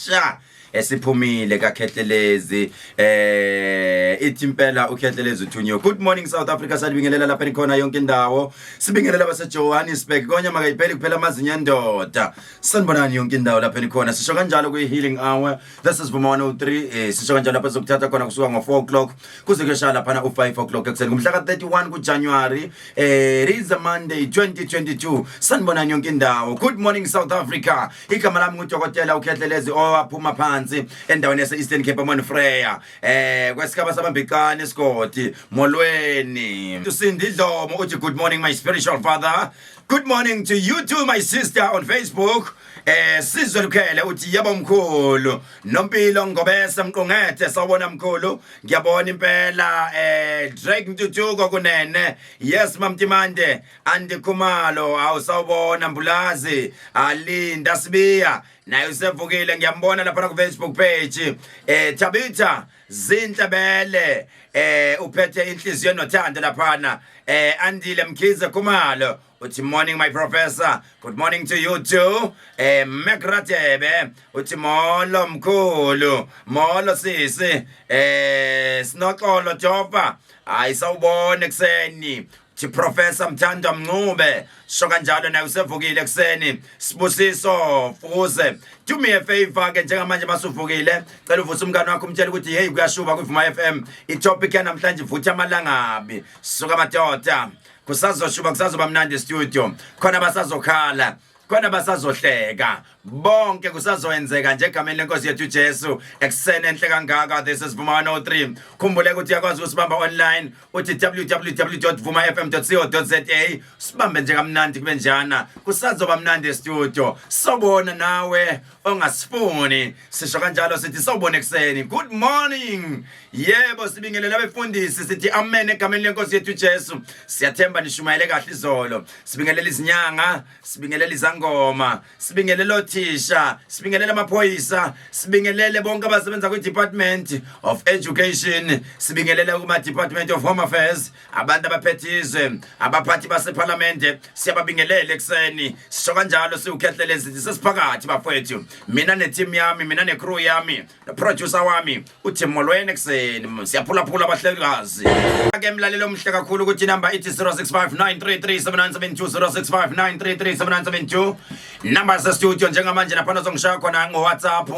sha esiphumile kakhehlelezi eh ithi impela ukhehlelezi uthunyiwe good morning south africa salibingelela lapha nikhona yonke indawo sibingelela basejohannesburg konya makayipheli kuphela amazinyo endoda sanibonani yonke indawo lapha nikhona sisho kanjalo kwi-healing hour this is vuma 103 eh, sisho kanjalo lapha sizokuthatha khona kusuka ngo-4 o'clock kuze kuyoshaya laphana u-5 o'clock ekuseni ngomhla ka-31 kujanuwari eh, it is a monday 2022 sanibonani yonke indawo good morning south africa igama lami ngudokotela ukhehlelezi owaphuma phansi endaweni yase-eastern cape amon freya eh kwesigaba sabambicane isigodi molweni usindi dlomo uthi good morning my spiritual father good morning to you too my sister on facebook eh sizwe lukhele uthi yebo mkhulu nompilo ngobese mqongethe sawubona mkhulu ngiyabona impela eh drake ntuthuko kunene yes mamtimande andikhumalo awusawubona mbulazi alinda sibiya naye usevukile ngiyambona laphana kufacebook page eh thabitha zinhle bele eh uphethe inhliziyo nothando laphana eh andile mkhize khumalo uthi morning my professor good morning to you too eh mekratebe uthi molo mkhulu molo sisi eh sinoxolo jopa hayi sawubona ekuseni thi professor mthanda mncube sho kanjalo naye usevukile ekuseni sibusiso fuze do me a favor ke njengamanje masuvukile cela uvuse umngane wakho umtshele ukuthi hey kuyashuba kwivuma FM itopic yanamhlanje vutha amalangabi suka madoda kusazoshuba kusazoba mnandi studio khona basazokhala khona basazohleka bonke kusazoyenzeka nje egameni lenkosi yethu uJesu ekuseni enhle kangaka this is Vuma 103 khumbule ukuthi uyakwazi usibamba online uthi www.vumafm.co.za sibambe nje kamnandi kube njana kusazoba mnandi estudio sobona nawe ongasifuni sisho kanjalo sithi sawubona ekuseni good morning yebo sibingelele abefundisi sithi amen egameni lenkosi yethu Jesu siyathemba nishumayele kahle izolo sibingelela izinyanga sibingelela izangoma sibingelela othisha sibingelela amaphoyisa sibingelele bonke abasebenza kwi department of education sibingelele kuma department of home affairs abantu abaphethe izwe abaphathi basephalamende siyababingelela ekuseni sisho kanjalo siwukhehlele ezithi sesiphakathi bafowethu mina nethimu yami mina necrew yami noproducer wami uthim molweni ekuseni siyaphulaphula abahlelikazi ake mlalelo omhle kakhulu ukuthi inamba ithi 0659337972 number sestudio njengamanje naphana zongishaya khona ngowhatsapp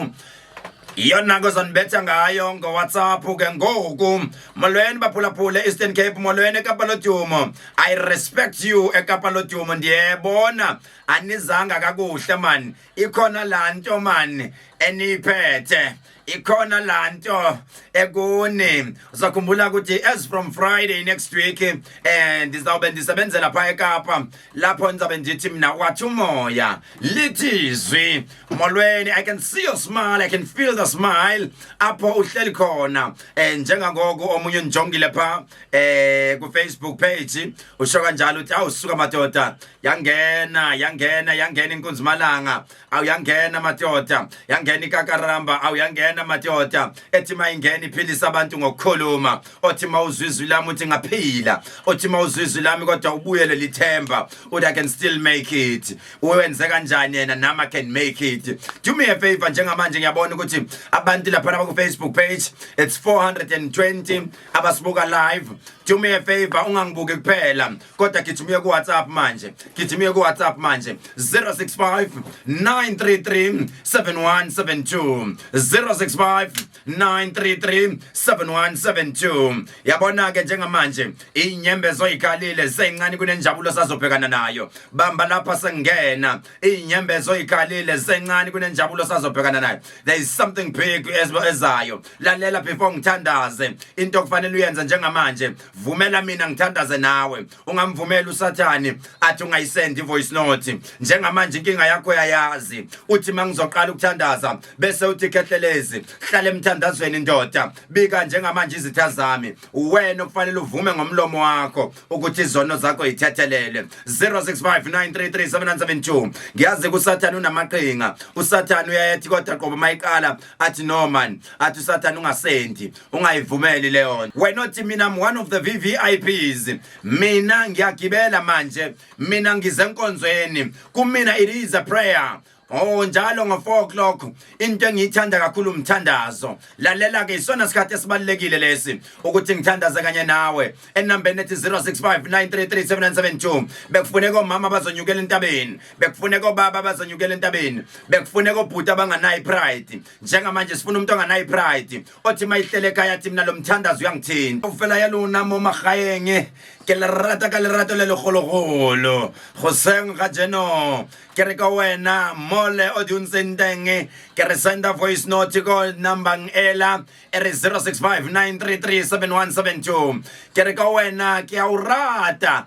iyona ke uzonibetha ngayo ngowhatsapp ke ngoku molweni baphulaphule eastern cape molweni ekapa lodumo i respect you ekapa lodumo ndiyebona anizanga kakuhle mani ikhona laa nto mani eniyiphethe ikhona laa nto ekuni uzakhumbula ukuthi as from friday next week um ndizawube ndisebenzela phaa ekapa lapho ngizabe ndithi mina wathi umoya lithi izwi molweni i can see your smile i can feel the smile apho uhleli khona eh njengangoku omunye unijongile pha eh ku Facebook page usho kanjalo uthi awusuka madoda yangena yangena yangena inkunzi malanga awu yangena madoda yangena ikakaramba awu yangena madoda ethi mayingena iphilisa abantu ngokukhuluma othi mawuzwa izwi lami uthi ngaphila othi mawuzwa izwi lami kodwa ubuyele lithemba uthi i can still make it uwenze kanjani yena nami i can make it do me a favor njengamanje ngiyabona ukuthi abantu lapha ku Facebook page it's 420 abasibuka live do me a favor ungangibuki kuphela kodwa gijima uye kuwhatsapp manje gijima uye kuwhatsapp manje 065 933 7172 065 933 7172 yabona-ke njengamanje iy'nyembezo oyikhalile seyincane kunenjabulo sazobhekana nayo bamba lapha sengena iy'nyembezo oyikhalile sencane kunenjabulo sazobhekana nayo there is something big ezayo lalela before ngithandaze into okufanele uyenze njengamanje vumela mina ngithandaze nawe ungamvumeli usathane athi ungayisend ivoice note njengamanje inkinga yakho yayazi uthi mangizoqala ukuthandaza bese uthi khehlelezi hlale emthandazweni ndoda bika njengamanje izitha zami wena okufanele uvume ngomlomo wakho ukuthi izono zakho yithethelele 0659337972 ngiyazi kusathane unamaqhinga usathane uyayethi kodwa qobo mayiqala athi no man athi usathane ungasendi ungayivumeli leyo nto wena othi mina I'm one of the VVIPs mina ngiyagibela manje mina ngize enkonzweni kumina it is a prayer Oh njalo ngo 4 o'clock into engiyithanda kakhulu umthandazo lalela ke isona sikhathi esibalekile lesi ukuthi ngithandaze kanye nawe enambeni ethi 0659337972 bekufuneka omama bazonyukela entabeni bekufuneka obaba abazonyukela entabeni bekufuneka obhuti abanganayo ipride njengamanje sifuna umuntu onganayo ipride othi uma ihlele ekhaya athi mina lo mthandazi uyangithinta ufela ya lona mo magayenge ke le rata ka lerato le legologolo goseng ga jeno ke re ka wena mole o di ntseng teng ke re senda voice note ko numbang ela e re 0659337172 ke re ka wena ke a o rata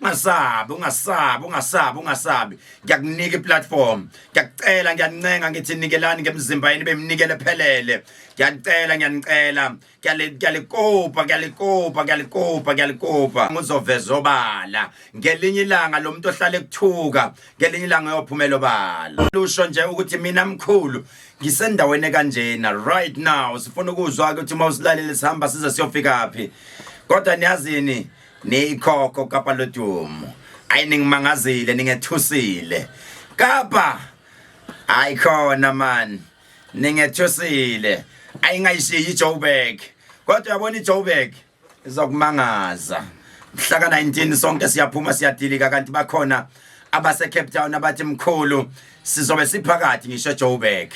ungasabi ungasabi ungasabi ungasabi ngiyakunika iplatform ngiyakucela ngiyancenga ngithi nikelani ngemizimba yenu bemnikele phelele ngiyanicela ngiyanicela ngiyalikopa ngiyalikopa ngiyalikopa ngiyalikopa ngizoveza obala ngelinye ilanga lo muntu ohlale kuthuka ngelinye ilanga uyophumela obala lusho nje ukuthi mina mkhulu ngisendaweni kanjena right now sifuna ukuzwa ukuthi uma usilalele sihamba size siyofika phi kodwa niyazini niyikhokho kapa lodumo ayi ningimangazile ningethusile kapa hayi khona man ningethusile ayingayishiyi ijoburg kodwa yabona ijoburg izokumangaza mhla ka-19 sonke siyaphuma siyadilika kanti bakhona abasecape town abathi mkhulu sizobe siphakathi ngisho ejoburg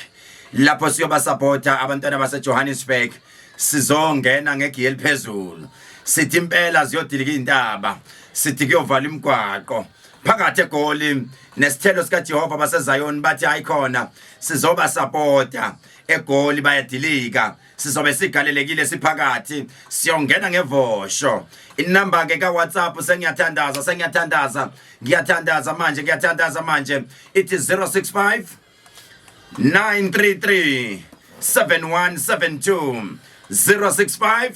lapho siyobasapota abantwana basejohannesburg sizongena ngegiye eliphezulu sithi impela ziyodilika izintaba sithi kuyovala imigwaqo phakathi egoli nesithelo sikaJehova baseZayoni bathi hayi khona sizoba supporta egoli bayadilika sizobe sigalelekile siphakathi siyongena ngevosho inumber ke ka WhatsApp sengiyathandaza sengiyathandaza ngiyathandaza manje ngiyathandaza manje ithi 065 933 7172 065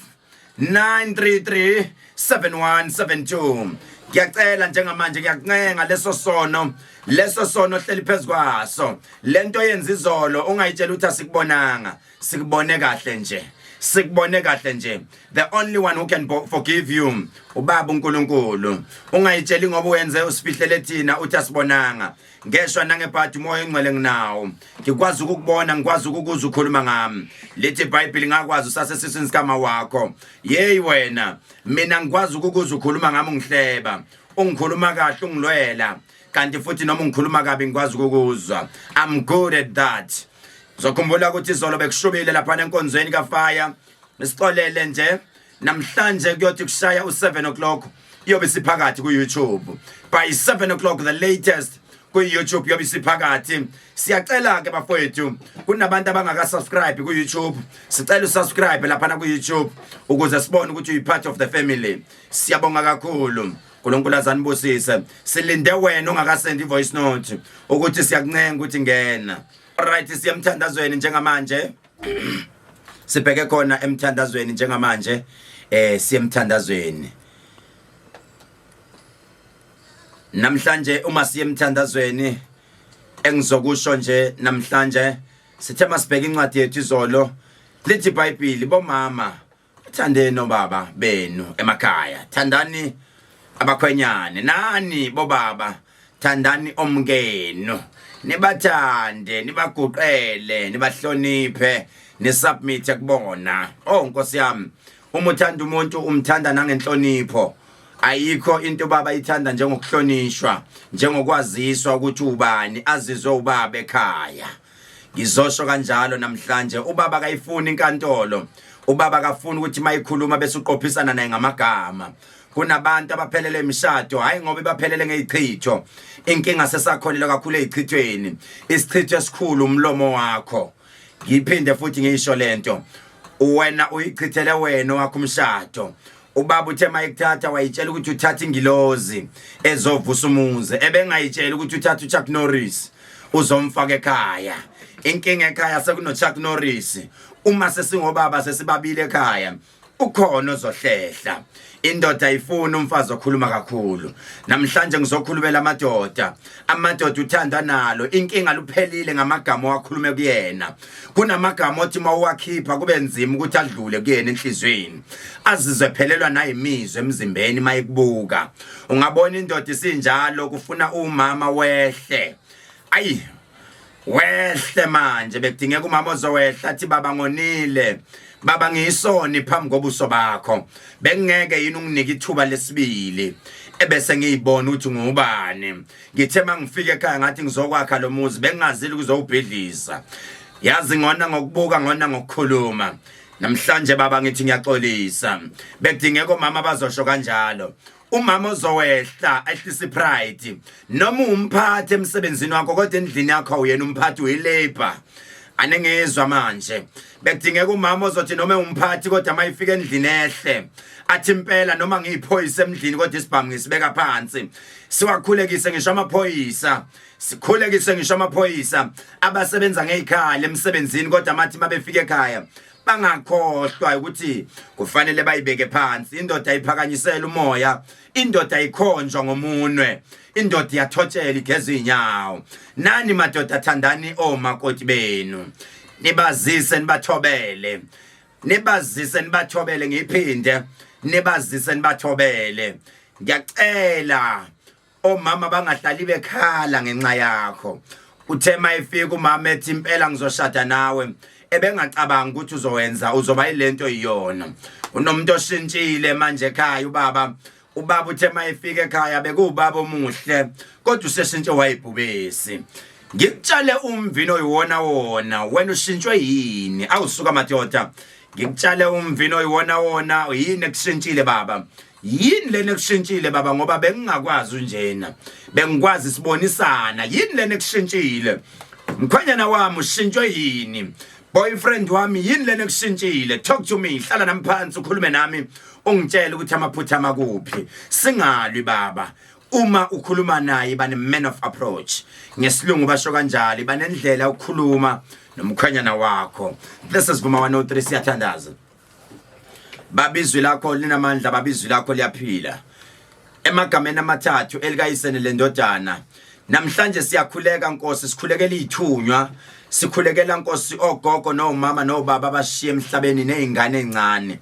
933 7172 ngiyacela njengamanje ngiyakuncenga leso sono leso sono hleli phezu kwaso lento yenza izolo ungayitshela ukuthi asikubonanga sikubone kahle nje sikubone kahle nje the only one who can forgive you ubaba uNkulunkulu ungayitsheli ngoba uyenze usifihlele thina uthi asibonanga ngeshwa nangebhadi umoya engcwele nginawo ngikwazi ukukubona ngikwazi ukukuza ukhuluma ngami lithi ibhayibhili ngakwazi usase sisini sikama wakho yeyi wena mina ngikwazi ukukuza ukhuluma ngami ungihleba ungikhuluma kahle ungilwela kanti futhi noma ungikhuluma kabi ngikwazi ukukuzwa i'm good at that zokhumbula ukuthi izolo bekushubile lapha enkonzweni kafaya nisixolele nje namhlanje kuyothi kushaya u-7 o'clock iyobe siphakathi ku-youtube by 7 o'clock the latest kwi-youtube yobe isiphakathi siyacela-ke bafowethu kunabantu abangakasubscribe kwi-youtube sicela usubscribe laphana kwi-youtube ukuze sibone ukuthi uyi-part of the family siyabonga kakhulu nkulunkulu azanibusise silinde wena ungakasendi i-voice note ukuthi siyakuncenga ukuthi ngena right siyemthandazweni njengamanje sibheke khona emthandazweni njengamanje eh siyemthandazweni namhlanje uma siyemthandazweni engizokusho nje namhlanje sithe masibheka incwadi yethu izolo lithi iBhayibheli bomama Thandeni obaba benu emakhaya, thandani abakhwenyane nani bobaba, thandani omkenu, nibathande, nibaguqele, nibahloniphe, nisubmit kubona. Oh Nkosi yami, uma uthanda umuntu umthanda nangenhlonipho. Ayikho into baba ithanda njengokuhlonishwa, njengokwaziswa ukuthi ubani, azizwe ubaba ekhaya. ngizosho kanjalo namhlanje ubaba kayifuni inkantolo ubaba kafuni ukuthi mayikhuluma bese uqophisana naye ngamagama kunabantu abaphelele imishado hayi ngoba ibaphelele ngezichitho inkinga sesakholelwa kakhulu ezichithweni isichitho esikhulu umlomo wakho ngiphinde futhi ngisho lento wena uyichithele wena wakho umshado ubaba uthe mayekuthatha wayitshela ukuthi uthatha ingilozi ezovusa umuzi ebengayitshela ukuthi uthatha uChuck Norris uzomfaka ekhaya inkinga ekhaya sekunoChuck Norris uma sesingobaba sesibabile ekhaya ukhona ozohlehla indoda ayifuni umfazi okhuluma kakhulu namhlanje ngizokhulumela amadoda amadoda uthanda nalo inkinga luphelile ngamagama owakhulume kuyena kunamagama othi uma uwakhipha kube nzima ukuthi adlule kuyena enhliziyweni azizwe phelelwa nayimizwe emzimbeni uma ikubuka ungabona indoda isinjalo kufuna umama wehle ayi wehle manje bekudingeka umama ozowehla athi baba ngonile baba ngiyisoni phambi kobuso bakho bengingeke yini unginike ithuba lesibili ebese ngiyibona ukuthi ngubani ngithe mangifika ekhaya ngathi ngizokwakha lo muzi bengingazile ukuzowubhidlisa yazi ngona ngokubuka ngona ngokukhuluma namhlanje baba ngithi ngiyaxolisa bekudingeka omama bazosho kanjalo umama ozowehla ehlisa ipride noma umphathi emsebenzini wakho kodwa endlini yakho uyena umphathi uyilabor anengizwa manje bekudingeka umama ozothi noma umphathi kodwa mayifika endlini ehle athi impela noma ngiyiphoyisa emndlini kodwa isibhamu ngisibeka phansi siwakhulekise ngisho amaphoyisa sikhulekise ngisho amaphoyisa abasebenza ngey'khala emsebenzini kodwa mathi mabefika ekhaya bangakhohlwa ukuthi kufanele bayibeke phansi indoda iphakanyisela umoya indoda ikhonjwa ngomunwe indoda iyathotshela igeza inyawo nani madoda thandani omakoti benu nibazise nibathobele nibazise nibathobele ngiphinde nibazise nibathobele ngiyacela omama bangahlali bekhala ngenxa yakho uthe mayifika umama ethi impela ngizoshada nawe ebengacabanga ukuthi uzowenza uzoba ilento iyona unomuntu oshintshile manje ekhaya ubaba ubaba uthe mayifika ekhaya bekuwubaba omuhle kodwa useshintshe wayibhubesi ngikutshale umvino oyiwona wona wena ushintshwe yini awusuka madoda ngikutshale umvino oyiwona wona yini ekushintshile baba yini lena ekushintshile baba ngoba bengingakwazi unjena bengikwazi sibonisana yini lena ekushintshile mkhwenyana wami ushintshwe yini boyfriend wami yini lena ekushintshile talk to me hlala nami phansi ukhulume nami ungitshele ukuthi amaphutha amakuphi singalwi baba uma ukhuluma naye bane man of approach ngesilungu basho kanjalo banendlela ukukhuluma nomkhwenyana wakho this is Vuma 103 siyathandaza babizwi lakho linamandla babizwi lakho liyaphila emagameni amathathu elikayisene lendodana namhlanje siyakhuleka nkosi sikhulekela ithunywa sikhulekela nkosi ogogo nomama nobaba abashiye emhlabeni nezingane ezincane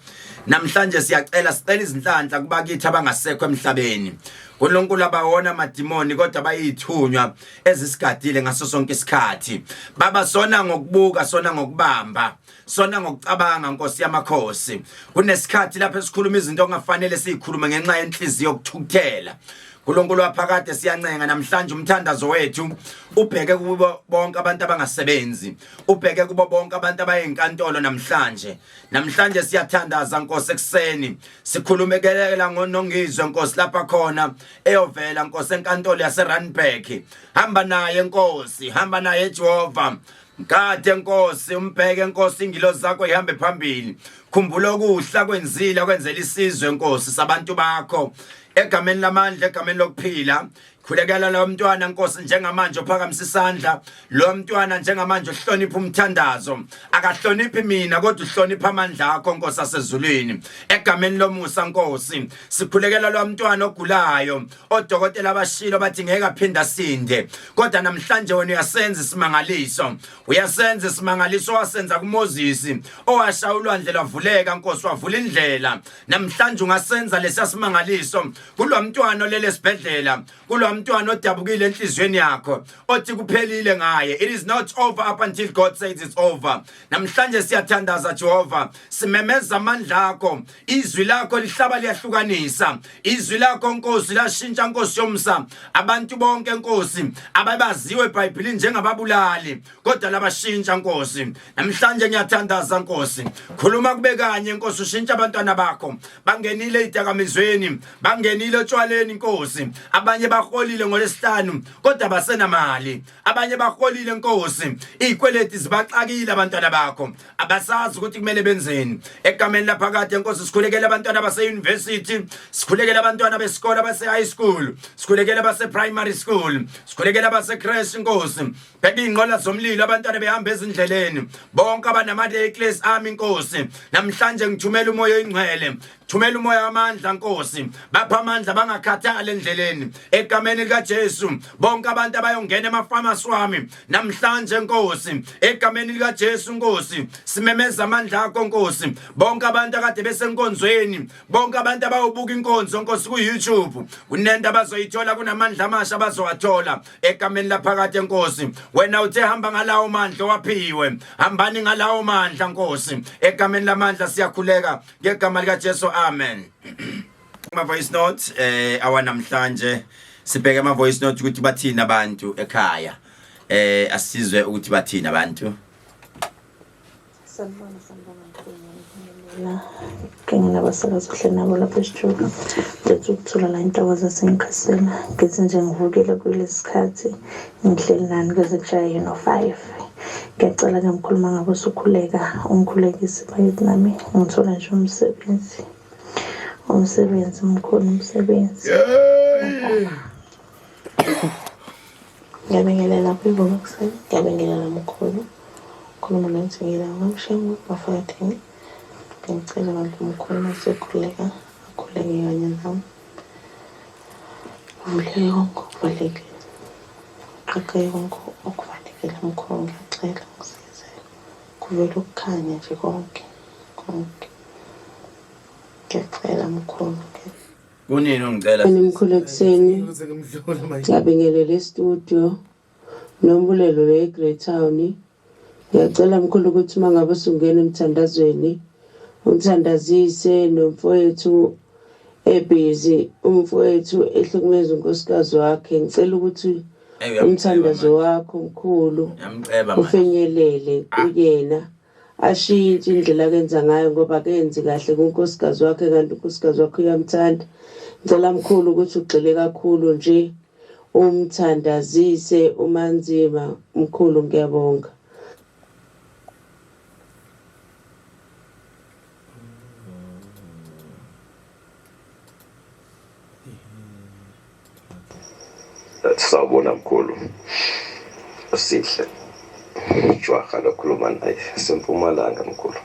namhlanje siyacela sicela izinhlanhla kubakithi abangasekho emhlabeni uNkulunkulu abawona madimoni kodwa bayithunywa ezisigadile ngaso sonke isikhathi baba sona ngokubuka sona ngokubamba sona ngokucabanga nkosi yamakhosi kunesikhathi lapho esikhuluma izinto ongafanele sizikhulume ngenxa yenhliziyo yokuthukuthela uNkulunkulu waphakade siyancenga namhlanje umthandazo wethu ubheke kubo bonke abantu abangasebenzi ubheke kubo bonke abantu abayenkantolo namhlanje namhlanje siyathandaza Nkosi ekseni sikhulumekela ngonongizwe Nkosi lapha khona eyovela Nkosi enkantolo yaseRandburg hamba naye Nkosi hamba naye Jehova Ngade Nkosi umbheke Nkosi ingilo zakho ihambe phambili khumbula okuhla kwenzile kwenzela isizwe Nkosi sabantu bakho egameni lamandla egameni lokuphila khulekela lo mntwana Nkosi njengamanje uphakamisa isandla lo mntwana njengamanje uhlonipha umthandazo akahloniphi mina kodwa uhlonipha amandla akho Nkosi asezulwini egameni lomusa Nkosi sikhulekela lo mntwana ogulayo odokotela bashilo bathi ngeke aphinde asinde kodwa namhlanje wena uyasenza isimangaliso uyasenza isimangaliso wasenza kuMoses owashaya ulwandle lwavuleka nkosi wavula indlela namhlanje ungasenza lesiya simangaliso kulo mntwana olele esibhedlela kulo mntwana odabukile enhliziyweni yakho othi kuphelile ngaye it is not over up until god says it's over namhlanje siyathandaza jehova simemeza amandla akho izwi lakho lihlaba liyahlukanisa izwi lakho nkosi lashintsha nkosi yomsa abantu bonke nkosi ababaziwe ebhayibhilini njengababulali kodwa labashintsha nkosi namhlanje ngiyathandaza nkosi khuluma kube kanye nkosi ushintsha abantwana bakho bangenile idakamizweni bangenile otshwaleni nkosi abanye baholile ngolesihlanu kodwa basenamali abanye baholile nkosi izikweleti zibaxakile abantwana bakho abasazi ukuthi kumele benzeni egameni laphakade nkosi sikhulekele abantwana base university sikhulekele abantwana besikole base high school sikhulekele base primary school sikhulekele base crash nkosi bheka ingqola zomlilo abantwana behamba ezindleleni bonke abanama reckless ami nkosi namhlanje ngithumela umoya oyingcwele Thumela umoya wamandla Nkosi bapha amandla bangakhathali endleleni egameni lika Jesu bonke abantu abayongena emafamasi wami namhlanje Nkosi egameni lika Jesu Nkosi simemeza amandla akho Nkosi bonke abantu akade besenkonzweni bonke abantu abayobuka inkonzo Nkosi ku YouTube kunento abazoyithola kunamandla amasha abazowathola egameni laphakathi enkosi wena uthe hamba ngalawo mandla waphiwe hambani ngalawo mandla Nkosi egameni lamandla siyakhuleka ngegama likaJesu amen kuma voice note eh awanamhlanje sibheke ama voice note ukuthi bathini abantu ekhaya eh asizwe ukuthi bathini abantu sanibona sanibona ngibonga kanye nabasakazi kuhle nabo lapha esitshulu ngenza ukuthola la intokozo sengikhasela ngithi nje ngivukile kulesikhathi Ngihleli nani kuze kushaye yini o-five ngiyacela ke mkhuluma ngabe usukhuleka ungikhulekise bakithi nami ngithole nje umsebenzi umsebenzi mkhulu umsebenzi ngiyabingelela kwivuka kuseni ngiyabingelela mkhulu khuluma nensingela ngamshengu bafakathini ngicela abantu mkhulu masekhuleka akhuleke kanye nami Ngivuleke konke okuvalekile. Ngiqoqe konke okuvalekile mkhulu ngiyacela ngisize. Kuvele ukukhanya nje konke konke. Ngiyacela mkhulu ngiyacela. Kunini ungicela? Mkhulu ekuseni. Ngiyabingelela e-studio. Nombulelo le Greytown. Ngiyacela mkhulu ukuthi uma ngabe usungena emthandazweni ungithandazise nomfowethu ebhizi umfowethu ehlukumeza unkosikazi wakhe ngicela ukuthi umthandazo wakho mkhulu ufinyelele kuyena Ashiye into indlela akenza ngayo ngoba akenzi kahle kunkosikazi wakhe kanti unkosikazi wakhe uyamthanda. Ngicela mkhulu ukuthi ugxile kakhulu nje umthandazise uManzima mkhulu ngiyabonga. sawubona mkhulu sihle jwaha lokhuluma naye sempumalanga mkhulu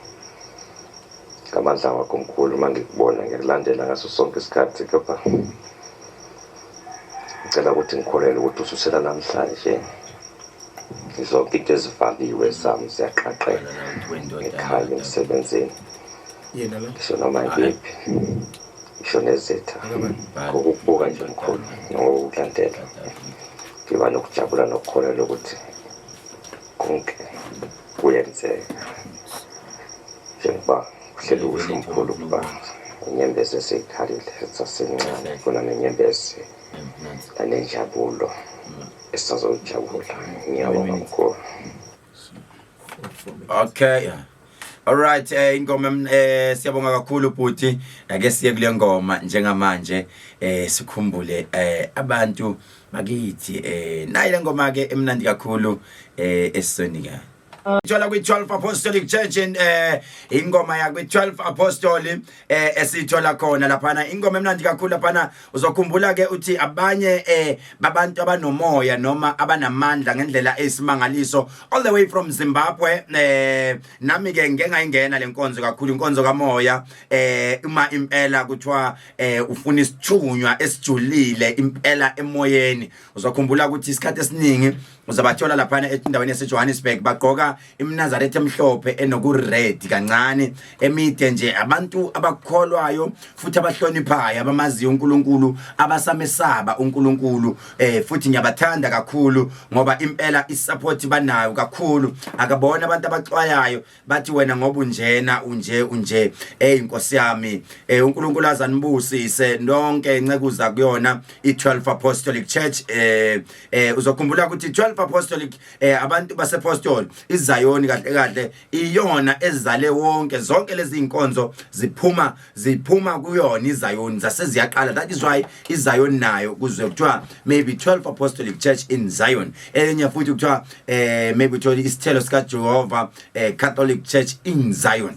ngamandla wakho mkhulu uma ngikubona ngikulandela ngaso sonke isikhathi kepha ngicela ukuthi ngikholelwe ukuthi ususela namhlanje zonke into ezifakiwe zami ziyaqaqela ngikhale emsebenzini ngisho noma ngiphi ngisho nezitha ngokukubuka nje mkhulu nangokukulandela ngiba nokujabula nokukholelwa ukuthi konke kuyenzeka njengoba Uhleli ukusho umkhulu ukuba inyembezi eseyikhalile sasencane kona nenyembezi nanenjabulo esazojabula ngiyabonga mkhulu okay yeah. Alright eh ingoma eh siyabonga kakhulu bhuti ake siye kule ngoma njengamanje eh sikhumbule eh abantu bakithi eh nayi le ngoma ke emnandi kakhulu eh esisonika Ithola kwi-12 Apostolic Church in eh ingoma ya kwi-12 Apostoli eh esithola khona laphana ingoma emnandi kakhulu laphana uzokhumbula ke uthi abanye eh babantu abanomoya noma abanamandla ngendlela esimangaliso all the way from Zimbabwe eh nami ke ngeke ngayingena lenkonzo kakhulu inkonzo kamoya eh uma impela kuthiwa eh ufuna isithunywa esijulile impela emoyeni uzokhumbula ukuthi isikhathi esiningi uzabathola laphana endaweni yasejohannesburg bagqoka imnazaretha emhlophe enokured kancane emide nje abantu abakholwayo futhi abahloniphayo abamaziyo unkulunkulu abasamesaba unkulunkulu eh futhi ngiyabathanda kakhulu ngoba impela isapoti banayo kakhulu akabona abantu abaxwayayo bathi wena ngoba unjena unje unje hey inkosi yami eh uNkulunkulu azanibusise nonke incekuza kuyona i12 apostolic church eh eh uzokhumbula ukuthi 12 apostolic eh abantu basePostol iZayoni kahle kahle iyona ezale wonke zonke lezi inkonzo ziphuma ziphuma kuyona iZion zase ziyaqala that is why iZion nayo kuzwe kuthiwa maybe 12 apostolic church in Zion enye futhi kuthiwa eh maybe kuthiwa isithelo sika Jehovah eh, Catholic Church in Zion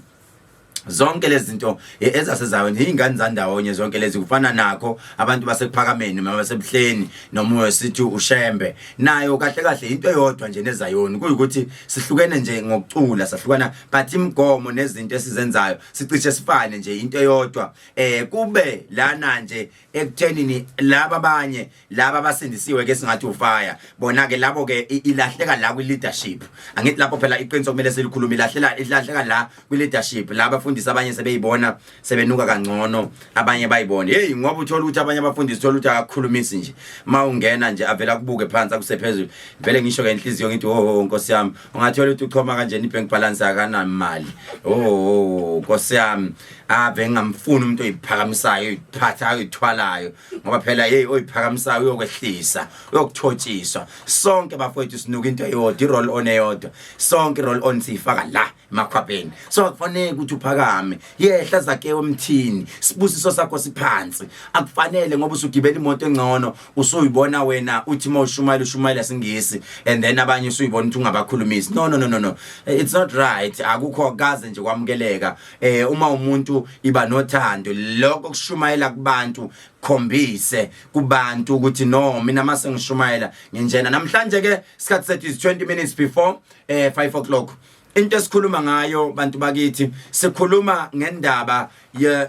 zonke lezi zinto eh, ezasezayo nje ingane zandawonye zonke lezi kufana nakho abantu basephakameni mama sebuhleni noma wesithi ushembe nayo kahle kahle into eyodwa nje nezayoni kuyukuthi sihlukene nje ngokucula sahlukana but imigomo nezinto esizenzayo sicishe sifane nje into eyodwa eh kube lana nje ekuthenini laba abanye laba abasindisiwe ke singathi ufaya bona ke labo ke ilahleka la kwi leadership angithi lapho phela iqiniso kumele silikhulume ilahlela ilahleka la kwi leadership laba fundisa abanye sebeyibona sebenuka kangcono abanye bayibone hey ngoba uthola ukuthi abanye abafundisi uthola ukuthi akakhulumisi nje mawungena nje avela kubuke phansi akusephezulu vele ngisho ke inhliziyo ngithi ho oh, oh, nkosi yami ungathola ukuthi uchoma kanjena ibank balance akanamali oh nkosi yami ave ngingamfuni umuntu oyiphakamisayo oyiphatha oyithwalayo ngoba phela hey oyiphakamisayo uyokwehlisa uyokuthotshiswa sonke bafowethu sinuka into eyodwa i-roll on eyodwa sonke i-roll on siyifaka la emakhwapheni so akufanele ukuthi uphakame yehla zakewe emthini sibusiso sakho siphansi akufanele ngoba usugibela imoto engcono usuyibona wena uthi uma ushumayela ushumayela singisi and then abanye usuyibona ukuthi ungabakhulumisi no no no no no it's not right akukho kaze nje kwamukeleka eh uma umuntu iba nothando lokho kushumayela kubantu khombise kubantu ukuthi no mina mase ngishumayela nginjena namhlanje ke isikhathi sethu is 20 minutes before eh 5 o'clock into esikhuluma ngayo bantu bakithi sikhuluma ngendaba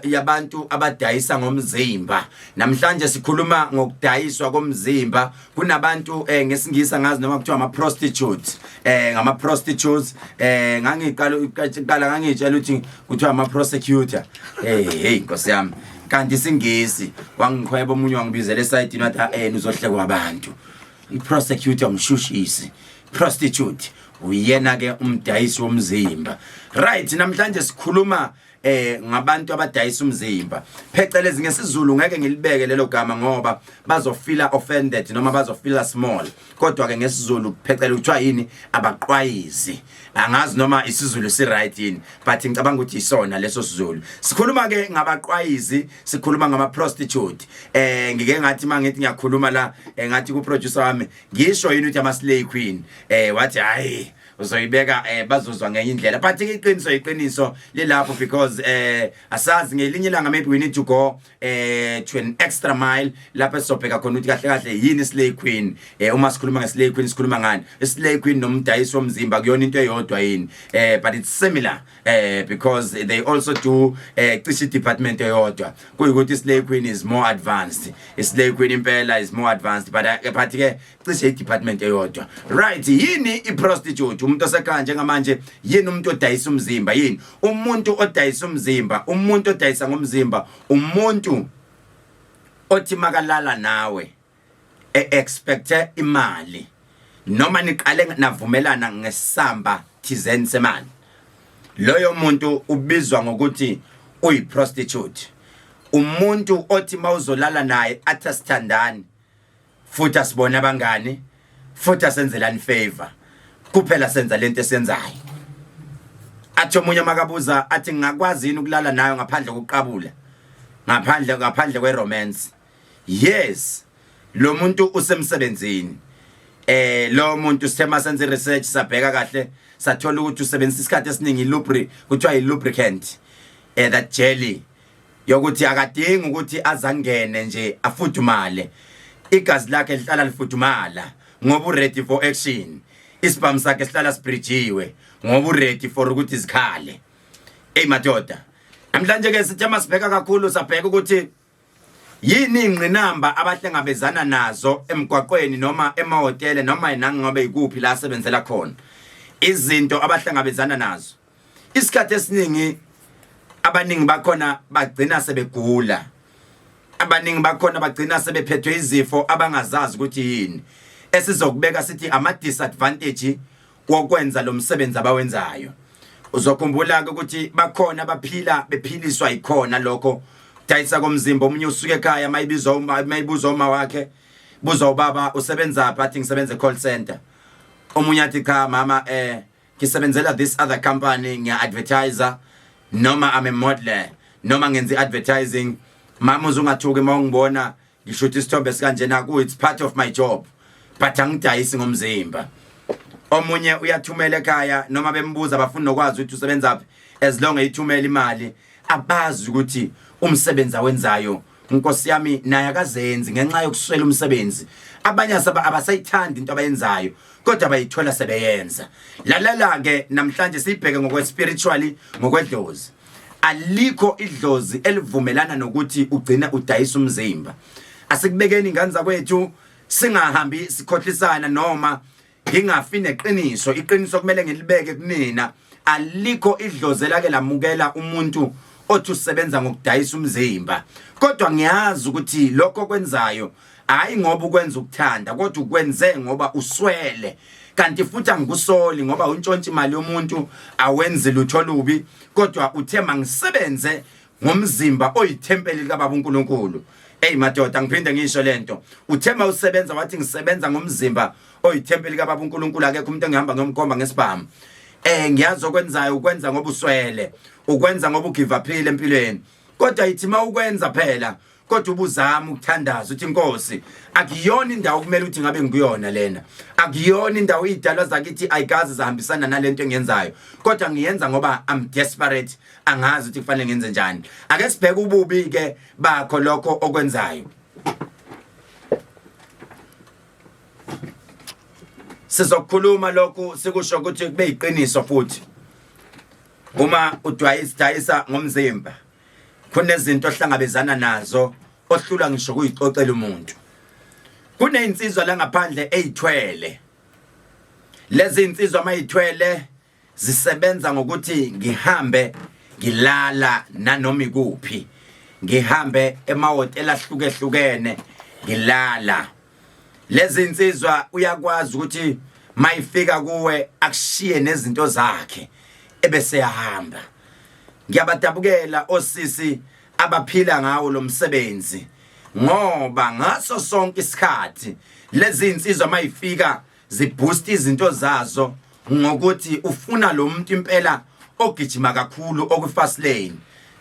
yabantu abadayisa ngomzimba namhlanje sikhuluma ngokudayiswa komzimba kunabantu eh, ngesingisa ngazi noma kuthiwa ama prostitutes eh ngama prostitutes eh ngangiqala uqala ngangitshela ukuthi kuthiwa ama prosecutor hey eh, hey inkosi yami kanti singisi wangikhweba omunye wangibizela esayidini wathi eh uzohlekwa abantu i prosecutor umshushisi prostitute uyena ke umdayisi womzimba right namhlanje sikhuluma eh ngabantu abadayisa umzimba phecelezi ngesizulu ngeke ngilibeke lelo gama ngoba bazofila offended noma bazofila small kodwa ke ngesizulu phecela uthiwa yini abaqwayizi angazi noma isizulu si right yini but ngicabanga ukuthi isona leso sizulu sikhuluma ke ngabaqwayizi sikhuluma ngama prostitute eh ngike ngathi mangithi ngiyakhuluma la eh, ngathi ku producer wami ngisho yini ukuthi ama slay queen eh wathi hayi uzoyibeka eh bazozwa ngenye indlela but ke iqiniso iqiniso lelapho because eh asazi ngelinye ilanga maybe we need to go eh to an extra mile lapho esizobheka khona ukuthi kahle kahle yini slay queen eh uma sikhuluma nge slay queen sikhuluma ngani slay queen nomdayisi womzimba kuyona into eyodwa yini eh but it's similar eh because they also do eh cishe department eyodwa kuyikuthi slay queen is more advanced slay queen impela is more advanced but eh, but ke cishe department eyodwa right yini i prostitute umuntu osekhaya njengamanje yini umuntu odayisa umzimba yini umuntu odayisa umzimba umuntu odayisa ngomzimba umuntu othi makalala nawe e-expecte imali noma niqale navumelana ngesamba thizeni semali loyo muntu ubizwa ngokuthi uyiprostitute umuntu othi mawuzolala naye athi asithandani futhi asibone abangani futhi asenzelani favor kuphela senza lento esenzayo athi omunye makabuza athi ngingakwazi yini ukulala nayo ngaphandle kokuqabula ngaphandle ngaphandle kweromance yes lo muntu usemsebenzini eh lo muntu sithe masenze research sabheka kahle sathola ukuthi usebenzisa isikhathi esiningi lubri kuthiwa yilubricant eh that jelly yokuthi akadingi ukuthi azangene nje afudumale igazi lakhe lihlala lifudumala ngoba uready for action isibhamu sakhe sihlala sibridgiwe ngoba uready for ukuthi zikhale eyi madoda namhlanje ke sithe masibheka kakhulu sabheka ukuthi Yini ingqinamba abahlangabezana nazo emgwaqweni noma emahhotela noma nangabe ikuphi la asebenzela khona? Izinto abahlangabezana nazo. Isikhathi esiningi abaningi bakhona bagcina sebegula. Abaningi bakhona bagcina sebephethwe izifo abangazazi ukuthi yini. Esizokubeka sithi ama disadvantage wokwenza lo msebenzi abawenzayo uzokhumbula-ke ukuthi bakhona abaphila bephiliswa yikhona lokho dayisa komzimba omunye usuke ekhaya mayibizwa uma mayibuzwa uma wakhe buza ubaba usebenza phi athi ngisebenza e-call center omunye athi cha mama eh ngisebenzela this other company ngiya-advertiser noma I'm a modeler noma ngenza i-advertising mama uzungathuki uma ungibona ngisho ukuthi isithombe sikanjena ku it's part of my job but angidayisi ngomzimba omunye uyathumela ekhaya noma bembuza bafuna nokwazi ukuthi usebenza phi as long eyithumela imali abazi ukuthi umsebenzi awenzayo inkosi yami naye akazenzi ngenxa yokuswela umsebenzi abanye asaba abasayithandi into abayenzayo kodwa bayithola sebeyenza lalala ke namhlanje sibheke ngokwe spiritually ngokwedlozi alikho idlozi elivumelana nokuthi ugcine udayisa umzimba asikubekeni ingane zakwethu singahambi sikhohlisana noma ngingafi neqiniso iqiniso kumele ngilibeke kunina alikho idlozi elake lamukela umuntu othi usebenza ngokudayisa umzimba kodwa ngiyazi ukuthi lokho kwenzayo hayi ngoba ukwenza ukuthanda kodwa ukwenze ngoba uswele kanti futhi angikusoli ngoba untshontsha imali yomuntu awenzi lutho lubi kodwa uthe mangisebenze ngomzimba oyithempeli likababa uNkulunkulu Hey madoda ngiphinde ngisho lento uthema usebenza wathi ngisebenza ngomzimba oyithempeli kababa uNkulunkulu akekho umuntu engihamba ngiyomkhomba ngesibhamu eh ngiyazi okwenzayo ukwenza ngoba uswele ukwenza ngoba ugivaphile empilweni kodwa yithi mawukwenza phela kodwa ubuzama ukuthandaza uthi inkosi akuyona indawo kumele uthi ngabe ngikuyona lena akuyona indawo idalwa zakithi ayikazi zahambisana nalento engenzayo kodwa ngiyenza ngoba i'm desperate angazi ukuthi kufanele ngenze njani ake sibheke ububi ke bakho lokho okwenzayo sizokhuluma lokhu sikusho ukuthi kube yiqiniso futhi uma udwayisa ngomzimba kunezinto ohlangabezana nazo ohlulwa ngisho kuyixoxela umuntu kunezinsizwa la ngaphandle ezithwele lezi insizwa mayithwele zisebenza ngokuthi ngihambe ngilala nanoma ikuphi ngihambe emahhotela ahlukehlukene ngilala lezi insizwa uyakwazi ukuthi mayifika kuwe akushiye nezinto zakhe ebese yahamba ngiyabadabukela osisi abaphila ngawo lo msebenzi ngoba ngaso sonke isikhathi lezi insizwa mayifika ziboost izinto zazo ngokuthi ufuna lo muntu impela ogijima kakhulu okufast lane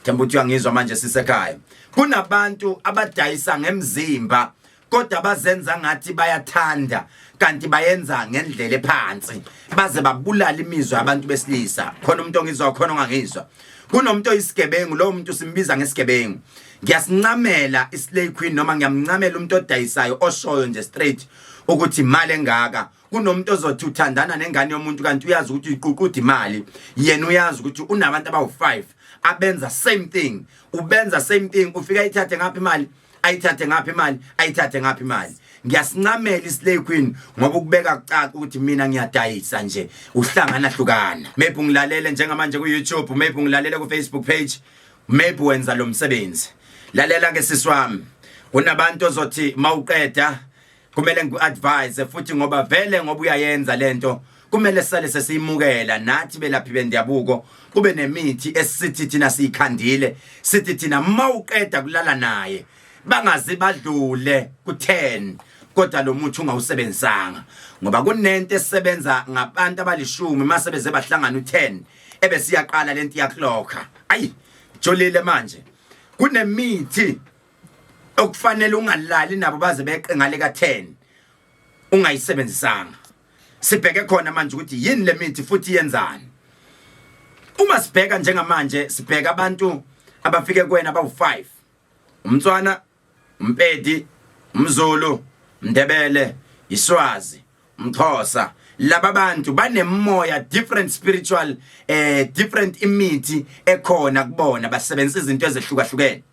themba uthi uyangizwa manje sisekhaya kunabantu abadayisa ngemzimba kodwa bazenza ngathi bayathanda kanti bayenza ngendlela ephansi baze babulala imizwa abantu besilisa khona umuntu ongizwa khona ongangizwa kunomuntu oyisigebengu lowo muntu simbiza ngesigebengu ngiyasincamela islay queen noma ngiyamncamela umuntu odayisayo oshoyo nje straight ukuthi imali engaka kunomuntu ozothi uthandana nengane yomuntu kanti uyazi ukuthi uyiququda imali yena uyazi ukuthi unabantu abawu-5 abenza same thing ubenza same thing ufika ithathe ngapha imali ayithathe ngaphi imali ayithathe ngaphi imali ngiyasincamela islay queen ngoba ukubeka kucaca ukuthi mina ngiyadayisa nje uhlangana hlukana maybe ungilalele njengamanje ku YouTube maybe ungilalele ku Facebook page maybe wenza lo msebenzi lalela ke siswami kunabantu ozothi mawuqeda kumele ngiku-advise futhi ngoba vele ngoba uyayenza lento kumele sale sesiyimukela nathi belaphi bendabuko kube nemithi esithi thina siyikhandile sithi thina mawuqeda kulala naye bangazi badlule ku10 kodwa lo muthi ungawusebenzisanga ngoba kunento esebenza ngabantu abalishumi mase beze bahlangana u10 ebesiyaqala lento yakloka ayi jolile manje kunemithi okufanele ungalali nabo baze beqe ngale ka 10 ungayisebenzisanga sibheke khona manje ukuthi yini lemithi futhi yenzani uma sibheka njengamanje sibheka abantu abafike kwena bawu5 umtswana umpedi umzulu mndebele iswazi umxhosa laba bantu banemoya different spiritual eh different imithi ekhona kubona basebenzisa izinto ezehlukahlukene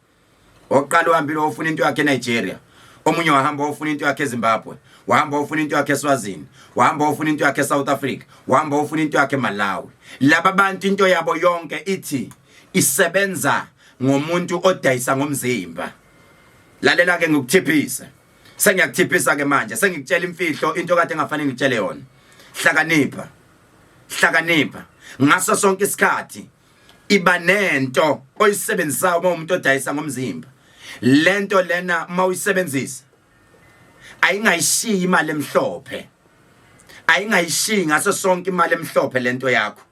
oqala uhambile ofuna into yakhe eNigeria omunye wahamba ofuna into yakhe eZimbabwe wahamba ofuna into yakhe eSwazini wahamba ofuna into yakhe eSouth Africa wahamba ofuna into yakhe eMalawi laba bantu into yabo yonke ithi isebenza ngomuntu odayisa ngomzimba lalela ke ngikuthiphise sengiyakuthiphisa ke manje sengikutshela imfihlo into kade engafanele ngitshele yona hlakanipha hlakanipha ngaso sonke isikhathi iba nento oyisebenzisayo uma umuntu odayisa ngomzimba lento lena uma uyisebenzisa ayingayishiyi imali emhlophe ayingayishiyi ngaso sonke imali emhlophe lento yakho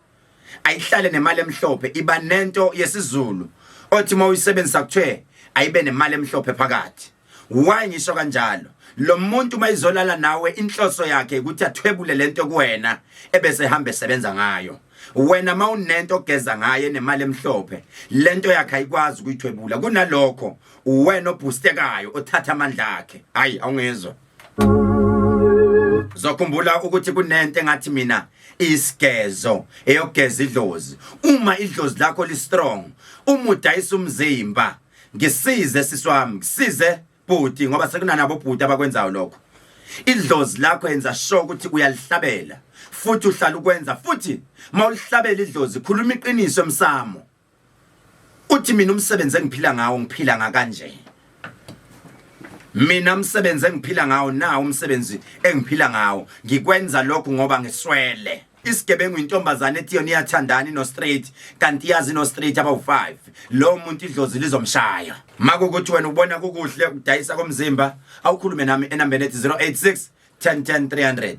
ayihlale nemali emhlophe iba nento yesizulu othi uma uyisebenzisa kuthiwe ayibe nemali emhlophe phakathi Why ngisho kanjalo? Lo muntu uma izolala nawe inhloso yakhe ukuthi athwebule lento kuwena ebese hamba esebenza ngayo. Wena mawunento ogeza ngaye nemali emhlophe, lento yakhe ayikwazi ukuyithwebula. Kunalokho uwena obhustekayo othatha amandla akhe. Hayi awungezwa. Zokhumbula ukuthi kunento engathi mina isigezo eyogeza idlozi. Uma idlozi lakho li strong, umudayisa umzimba ngisize sisi wami ngisize bhuti ngoba sekunanabo bhuti abakwenzayo lokho idlozi lakho yenza sure ukuthi uyalihlabela futhi uhlala ukwenza futhi mawulihlabela idlozi khuluma iqiniso emsamo uthi mina umsebenzi engiphila ngawo ngiphila ngakanje mina umsebenzi engiphila ngawo na umsebenzi engiphila ngawo ngikwenza lokhu ngoba ngiswele isigebengu intombazane ethi yona iyathandana inostraight kanti iyazi inostraight abawu-5 lowo muntu idlozi lizomshaya makukuthi wena ubona kukuhle ukudayisa komzimba awukhulume nami enambeni ethi 086 1010 300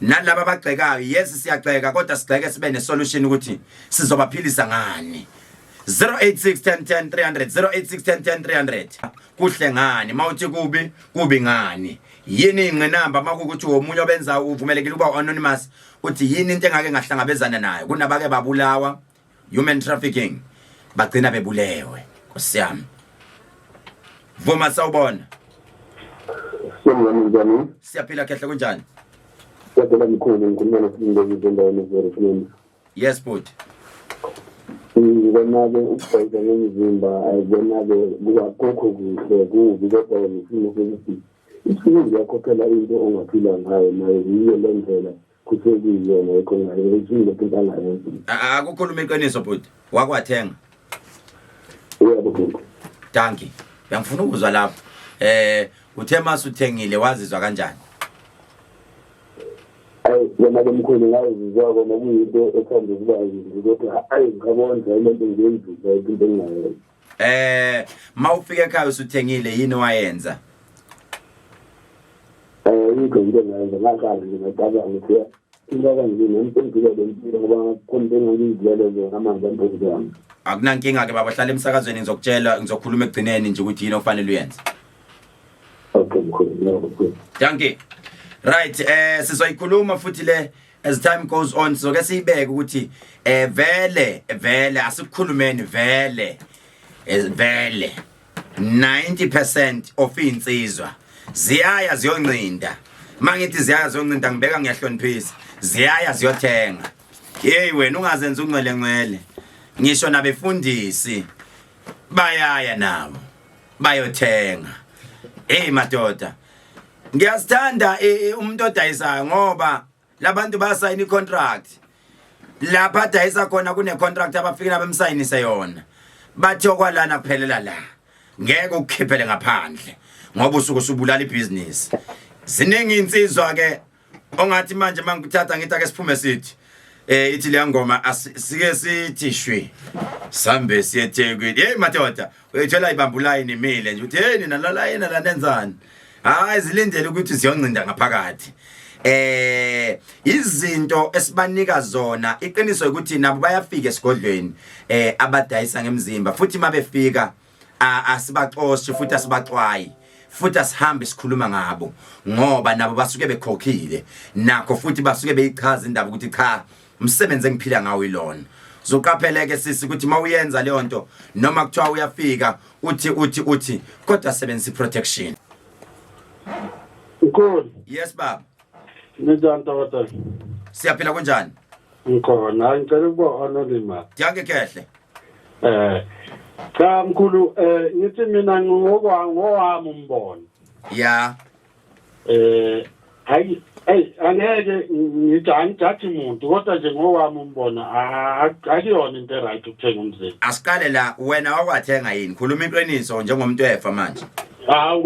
nalaba abagxekayo yesi siyagxeka kodwa sigxeke sibe nesolution ukuthi sizobaphilisa ngani 0861100300 0861100300 kuhle ngani mawuthi kubi kubi ngani yini ingqinamba makukuthi womunye obenza uvumelekile ukuba anonymous uthi yini into engake ngahlangabezana nayo kunabake babulawa human trafficking bagcina bebulewe nkosiyami vuma sawubona siyaphila khehle kunjani kodwa mkhulu ngikhuluma noSibongo ngizendaweni eZerifini yes bhuti ngibona-ke ukugqoka ngomzimba ayibona-ke kukho kuhle kubi kodwa ngisimo sokuthi isimo ngiyakhokhela into ongaphila ngayo nayo yiyo le ndlela kusekuyiyona yekho ngayo isimo into angayenza akukhuluma iqiniso bhuti wakwathenga uyabo gogo danki ngiyangifuna ukuzwa lapho eh uthe mase uthengile wazizwa kanjani ayi yena ke mkhulu ngayizizwa kona kuyinto ethanda ukuba yinzi kodwa ayi ngikabonza le nto ngiyenzile into engingayenza eh mawufika ekhaya usuthengile yini wayenza eh yikho into engayenza ngaqala nje ngaqala ngithi Ingaba nje ngempendula le mpilo ngoba khona into engangizilele zona amanzi ampozi yami. Akunankinga ke baba hlala emsakazweni ngizokutshela ngizokhuluma ekugcineni nje ukuthi yini ofanele uyenze. Okay mkhulu ngiyakuzwa. Thank you. Right eh sizoyikhuluma futhi le as time goes on sizoke siyibeke ukuthi eh vele vele asikukhulumeni vele eh, vele 90% of insizwa ziyaya ziyoncinda mangithi ziyaya ziyoncinda ngibeka ngiyahloniphisa ziyaya ziyothenga hey wena ungazenza ungcwele ngcwele ngisho nabefundisi bayaya nabo bayothenga hey madoda ngiyasithanda umuntu odayisayo ngoba labantu bayasayina icontract lapha adayisa khona kunecontract abafike nabemsayinise yona bathi okwalana kuphelela la ngeke ukukhiphele ngaphandle ngoba usuke usubulala ibhizinisi ziningi insizwa ke ongathi manje mangikuthatha ngithi ake siphume sithi eh ithi le ngoma asike sithi shwi sambe siyethekwini hey madoda uyithola ibambulayi nimile nje uthi hey nina lala yena la nenzani hayi zilindele ukuthi siyoncinda ngaphakathi eh izinto esibanika zona iqiniso ukuthi nabo bayafika esigodlweni eh abadayisa ngemzimba futhi mabefika asibaxoshi futhi asibaxwayi futhi asihambe sikhuluma ngabo ngoba nabo basuke bekhokhile nakho futhi basuke beyichaza indaba ukuthi cha umsebenzi engiphila ngawo ilona zoqapheleke sisi ukuthi mawuyenza leyo nto noma kuthiwa uyafika uthi uthi uthi kodwa sebenzisa protection Mkhulu yes baba Ninjani tata Siyaphila kunjani Ngikhona ngicela ukuba anonymous Diyake kehle Eh cha mkhulu eh ngithi mina ngokwa ngowami umbono Yeah eh hayi hey angeke ngithi angithathi muntu kodwa nje ngowami umbona akuyona into eright ukuthenga umzimba asiqale la wena wakwathenga yini khuluma into eninso njengomuntu efa manje hawu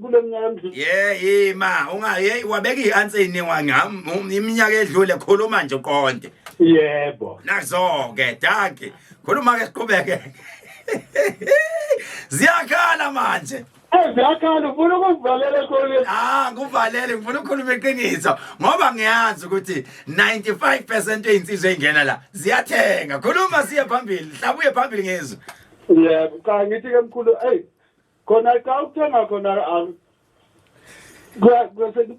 kule minyaka emdlule ye ima unga ye wabeka i-answer ininwa ngam iminyaka edlule khuluma nje uqonde yebo nazo-ke daki khuluma-ke siqhubeke ziyakhala manje Eziyakhala ufuna ukuzivalela ekhoneni. Ah, kuvalele ngifuna ukukhuluma iqiniso ngoba ngiyazi ukuthi 95% einsizwa engena la ziyathenga. Khuluma siye phambili, hlabuye phambili ngezwe. Yebo, cha ngithi ke mkhulu, hey. Khona cha ukuthenga khona ah, kwe- kwe-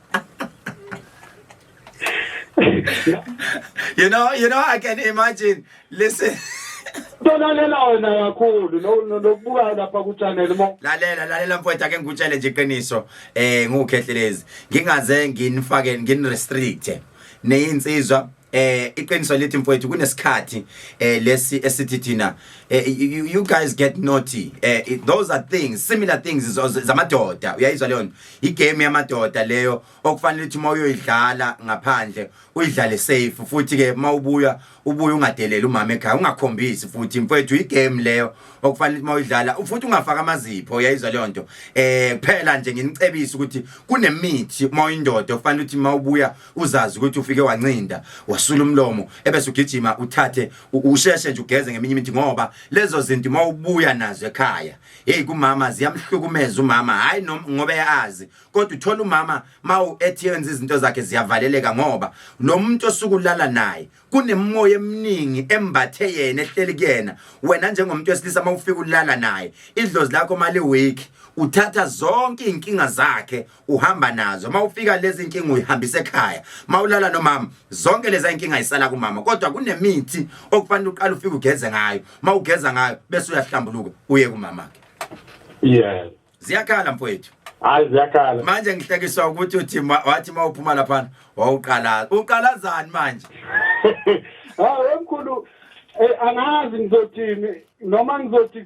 you know, you know, I can imagine. Listen. Tolalela wena kakhulu nokubukayo lapha ku channel mo. Lalela lalela mfowethu ake ngikutshele nje iqiniso eh ngukhehlelezi. Ngingaze nginifake ngin restrict. Neyinsizwa eh iqiniso lithi mfowethu kunesikhathi eh lesi esithi thina eh, you, you guys get naughty eh it- those are things similar things zo- zo- zamadoda uyayizwa leyo nto igame yamadoda leyo okufanele ukuthi uma uyoyidlala ngaphandle uyidlale safe futhi ke uma ubuya ubuye ungadeleli umama ekhaya ungakhombisi futhi mfowethu igame leyo okufanele ukuthi uma uyidlala futhi ungafaki amazipho uyayizwa leyo nto eh kuphela nje nginicebisa ukuthi kunemithi uma uyindoda okufanele ukuthi uma ubuya uzazi ukuthi ufike wancinda wasula umlomo ebese ugijima uthathe usheshe nje ugeze ngeminye imithi ngoba lezo zinto uma ubuya nazo ekhaya hey kumama ziyamhlukumeza umama hayi ngoba eyazi kodwa uthola umama mawu ethenza izinto zakhe ziyavaleleka ngoba lo muntu osukulala naye kunemoya eminingi embathe yena ehleli kuyena wena njengomuntu wesilisa mawufika ulala naye idlozi lakho mali week uthatha zonke inkinga zakhe uhamba nazo mawufika lezi inkinga uyihambisa ekhaya mawulala nomama zonke lezi inkinga isala kumama kodwa kunemithi okufanele uqale ufike ugeze ngayo mawugeza ngayo bese uyahlambuluka uye kumama ke yeah ziyakhala mfowethu hayi ziyakhala manje ngihlekiswa ukuthi uthi wathi mawuphuma lapha wawuqala uqalazani manje hayi wemkhulu eh, angazi ngizothini noma ngizothi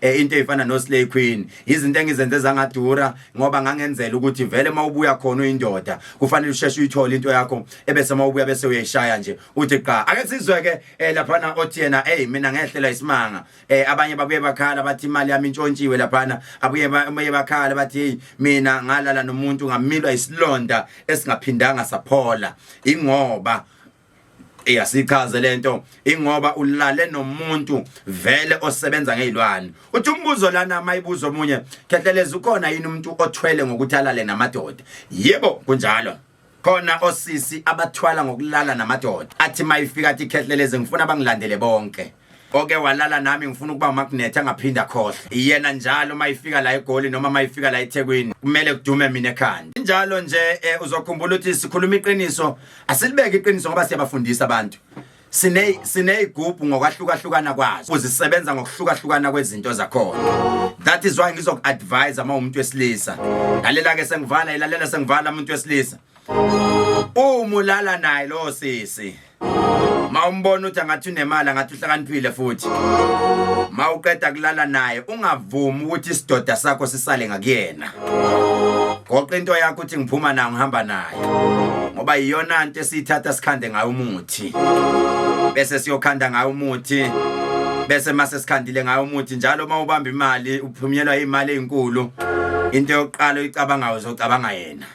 eh into efana no slay queen izinto engizenze zangadura ngoba ngangenzela ukuthi vele mawubuya khona uyindoda kufanele usheshe uyithole into yakho ebese mawubuya bese uyayishaya nje uthi qa ake sizwe ke eh, lapha na othi yena hey mina ngehlela isimanga eh abanye babuye bakhala bathi imali yami intshontshiwe lapha na abuye baye bakhala bathi hey mina ngalala nomuntu ngamilwa isilonda esingaphindanga saphola ingoba iyasichaze lento ingoba ulale nomuntu vele osebenza ngezilwane uthi umbuzo lana mayibuzo omunye khehleleza ukhona yini umuntu othwele ngokuthi alale namadoda yebo kunjalo khona osisi abathwala ngokulala namadoda athi mayifika athi khehleleze ngifuna bangilandele bonke oke walala nami ngifuna ukuba umakunethi angaphinde akhohle iyena njalo uma ifika la egoli noma uma ifika la ethekwini kumele kudume mina ekhanda njalo nje eh, uzokhumbula ukuthi sikhuluma iqiniso asilibeke iqiniso ngoba siyabafundisa abantu sine sineyigubhu ngokwahlukahlukana kwazo uzisebenza ngokuhlukahlukana kwezinto zakhona that is why ngizoku-advise uma umuntu wesilisa lalela-ke sengivala ilalela sengivala umuntu wesilisa umulala naye lo sisi mawumbona ukuthi angathi unemali angathi uhlakaniphile futhi mawuqeda kulala naye ungavumi ukuthi isidoda sakho sisale ngakuyena goqa into yakho uthi ngiphuma nayo ngihamba nayo ngoba yiyona nto esiyithatha sikhande ngayo umuthi bese siyokhanda ngayo umuthi bese mase sikhandile ngayo umuthi njalo uma ubamba imali uphunyelwa imali ezinkulu into yokuqala oyicabangayo uzocabanga yena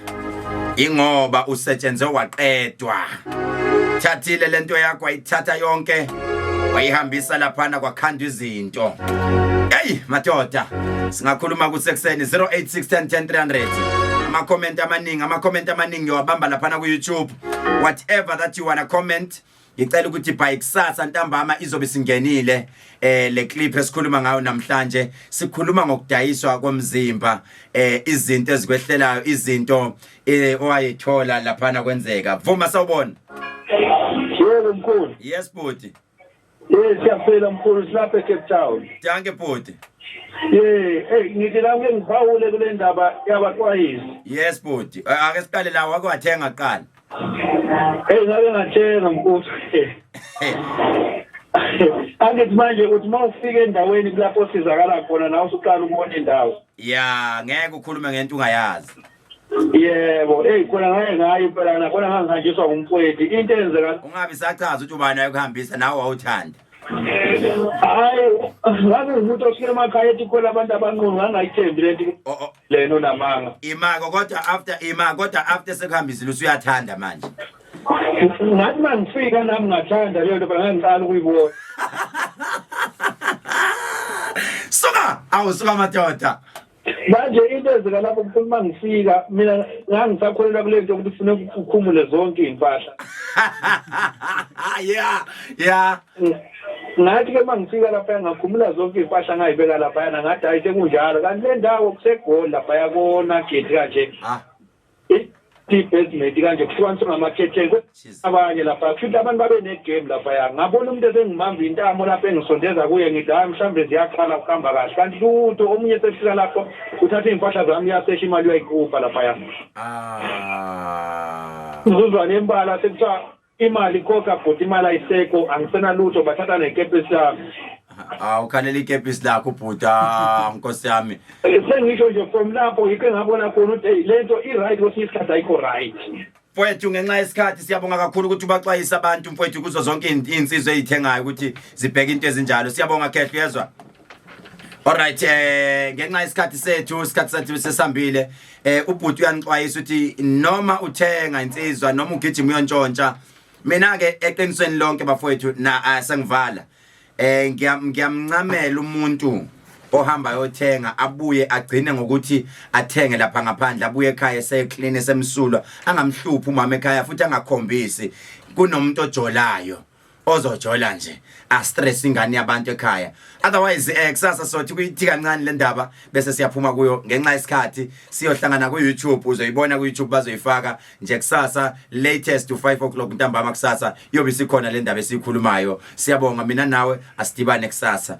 ingoba usetshenze waqedwa thathile lento yakho ayithatha yonke wayihambisa laphana kwakhanda izinto hey madoda singakhuluma kusekuseni 0861010300 ama comment amaningi ama comment amaningi yowabamba laphana ku YouTube whatever that you wanna comment ngicela ukuthi by kusasa ntambama izobe singenile eh le clip esikhuluma ngayo namhlanje sikhuluma ngokudayiswa komzimba eh izinto ezikwehlelayo izinto eh, owayethola lapha na kwenzeka vuma sawubona yebo mkhulu yes bhuti Eh siyaphila mkhulu silapha eCape Town. Danke bhuti. Eh hey ngithi la ngiphawule kule ndaba yabaxwayisi. Yes bhuti. Ake siqale la wake wathenga qala. Hey ngake ngathenga mfuthu. Angithi manje uthi uma ufika endaweni kulapho osizakala khona nawe usuqala ukubona indawo. Ya ngeke ukhulume ngento ungayazi. Yebo, hey khona ngeke ngayi impela na khona ngangihanjiswa ngumfowethu. Into enzeka Ungabi sachaza ukuthi ubani ayekuhambisa nawe wawuthanda. hayi ngabe umuntu ofika emakhaya ethi khona abantu abanqunu ngangayithembi lento. O- o- lena unamanga imako kodwa after imako kodwa after sekuhambisile usuyathanda manje ngathi mangifika nami ngathanda leyo nto bangangiqala ukuyibona suka awu suka madoda manje into ezika lapho kuthi uma ngifika mina ngangisakholelwa kule nto ukuthi kufuneka ukhumule zonke iy'mpahla ya ya ngathi ke mangifika lapha ngakhumula zonke impahla ngayibeka lapha yana ngathi hayi sekunjalo kanti le ndawo kusegoli lapha yakona gate kanje ah. i-basement kanje kuhlukaniswe ngamakhetheni abanye lapha kushuthi abantu babe ne-game laphaya ngabona umuntu esengibamba intamo lapho engisondeza kuye ngithi hayi mhlawumbe ziyaqala kuhamba kahle kanti lutho omunye esefika lapho uthatha iy'mpahla zami uyasesha imali uyayikhupha laphaya ah. uzuzwane embala sekuthiwa Imali koka bhuti imali ayisekho angisenalutho bathatha nekepesi yami. Ah ukhalela ikepisi lakho bhuta nkosi yami. Eh, Sengisho nje from lapho yikho engabona khona ukuthi hey, lento i-right kwesinye isikhathi ayikho right. Mfowethu ngenxa yesikhathi siyabonga kakhulu ukuthi ubaxwayisa abantu mfowethu kuzo zonke izinsizwa ezithengayo ukuthi zibheke into ezinjalo. Siyabonga Khehla uyezwa? Alright eh ngenxa isikhathi sethu isikhathi sethu sesambile eh ubhuti uyanixwayisa ukuthi noma uthenga insizwa noma ugijima uyontshontsha mina ke eqinisweni lonke bafowethu na asengivala eh ngiyamncamela umuntu ohamba ayothenga abuye agcine ngokuthi athenge lapha ngaphandle abuye ekhaya eseclean esemsulwa angamhluphi umama ekhaya futhi angakhombisi kunomuntu ojolayo ozojola nje astress ingane yabantu ekhaya otherwise eh kusasa sothi kuyithi kancane le ndaba bese siyaphuma kuyo ngenxa yesikhathi siyohlangana ku YouTube uzoyibona ku YouTube bazoyifaka nje kusasa latest to 5 o'clock ntambama kusasa yobe sikhona le ndaba esikhulumayo siyabonga mina nawe asidibane kusasa